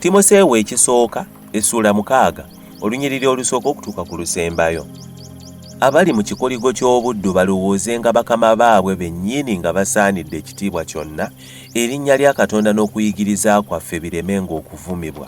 timoseewo ekisooka essuula mukaaga olunyiriri olusooka okutuuka ku lusembayo abali mu kikoligo ky'obuddu balowoozenga bakama baabwe bennyini nga basaanidde ekitiibwa kyonna erinnya lya katonda n'okuyigiriza kwaffe biremenga okuvumibwa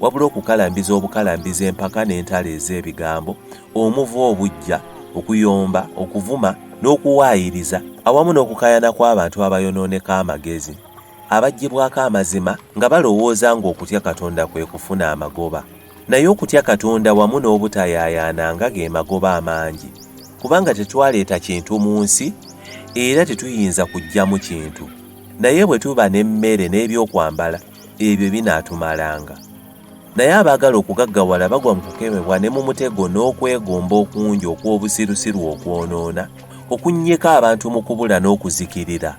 wabula okukalambiza obukalambiza empaka n'entalo ez'ebigambo omuva obujja okuyomba okuvuma n'okuwaayiriza awamu n'okukayana kw'abantu abayonooneka amagezi abaggyibwako amazima nga balowooza ng'okutya katonda kwe kufuna amagoba naye okutya katonda wamu n'obutayaayaana nga ge magoba amangi kubanga tetwaleeta kintu mu nsi era tetuyinza kuggyamu kintu naye bwe tuba n'emmere n'ebyokwambala ebyo binaatumalanga. Naye abaagala okugaggawala bagwa mu kukemebwa ne mu mutego n'okwegomba okungi okw'obusirusiru okwonoona, okunnyika abantu mu kubula n'okuzikirira.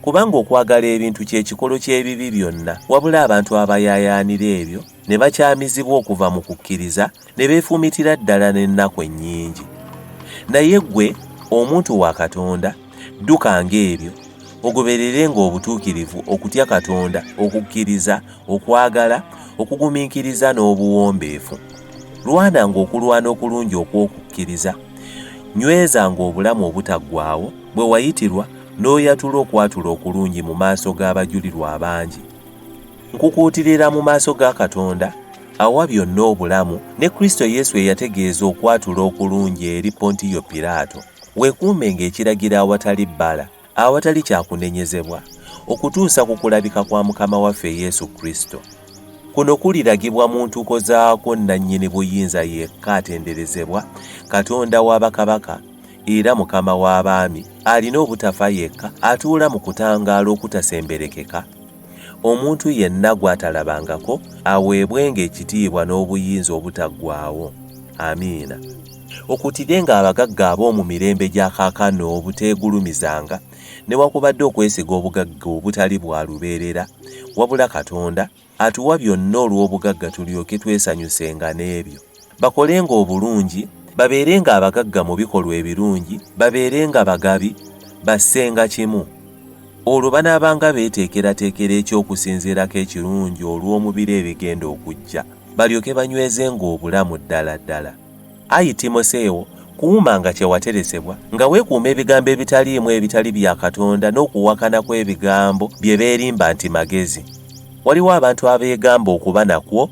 Kubanga okwagala ebintu kye kikolo ky'ebibi byonna, wabula abantu abayaayaanira ebyo ne bakyamizibwa okuva mu kukkiriza ne beefumitira ddala n'ennaku ennyingi naye ggwe omuntu wa katonda dduka ng'ebyo ogoberere ng'obutuukirivu okutya katonda okukkiriza okwagala okugumiikiriza n'obuwombeefu lwana ng'okulwana okulungi okw'okukkiriza nyweza ng'obulamu obutaggwawo bwe wayitirwa n'oyatula okwatula okulungi mu maaso g'abajulirwa abangi Nkukuutirira mu maaso ga Katonda awa byonna obulamu ne Kristo Yesu eyategeeza okwatula okulungi eri Pontiyo Piraato, weekuume ng'ekiragiro awatali bbala, awatali kyakunenyezebwa, okutuusa ku kulabika kwa Mukama waffe Yesu Kristo. Kuno kuliragibwa mu ntuuko zaakwo nnannyini buyinza yekka atenderezebwa, Katonda wa bakabaka era Mukama w'abaami, alina obutafa yekka, atuula mu kutangaala okutasemberekeka, Omuntu yenna gw'atalabangako aweebwenga ekitiibwa n'obuyinza obutaggwaawo. Amiina. Okutirenga abagagga ab'omu mirembe gya kaakano obuteegulumizanga newakubadde okwesiga obugagga obutali bwa lubeerera, wabula Katonda atuwa byonna olw'obugagga tulyoke twesanyusenga n'ebyo. bakolenga obulungi babeerenga abagagga mu bikolwa ebirungi babeerenga bagabi bassenga kimu olwo banaabanga beeteekerateekera eky'okusinziirako ekirungi olw'omubiri ebigenda okujja balyoke banywezenga obulamu ddala ddala ayi timoseewo kuuma nga kyewateresebwa nga weekuuma ebigambo ebitaliimu ebitali bya katonda n'okuwakana kw'ebigambo bye beerimba nti magezi waliwo abantu abeegamba okuba nakwo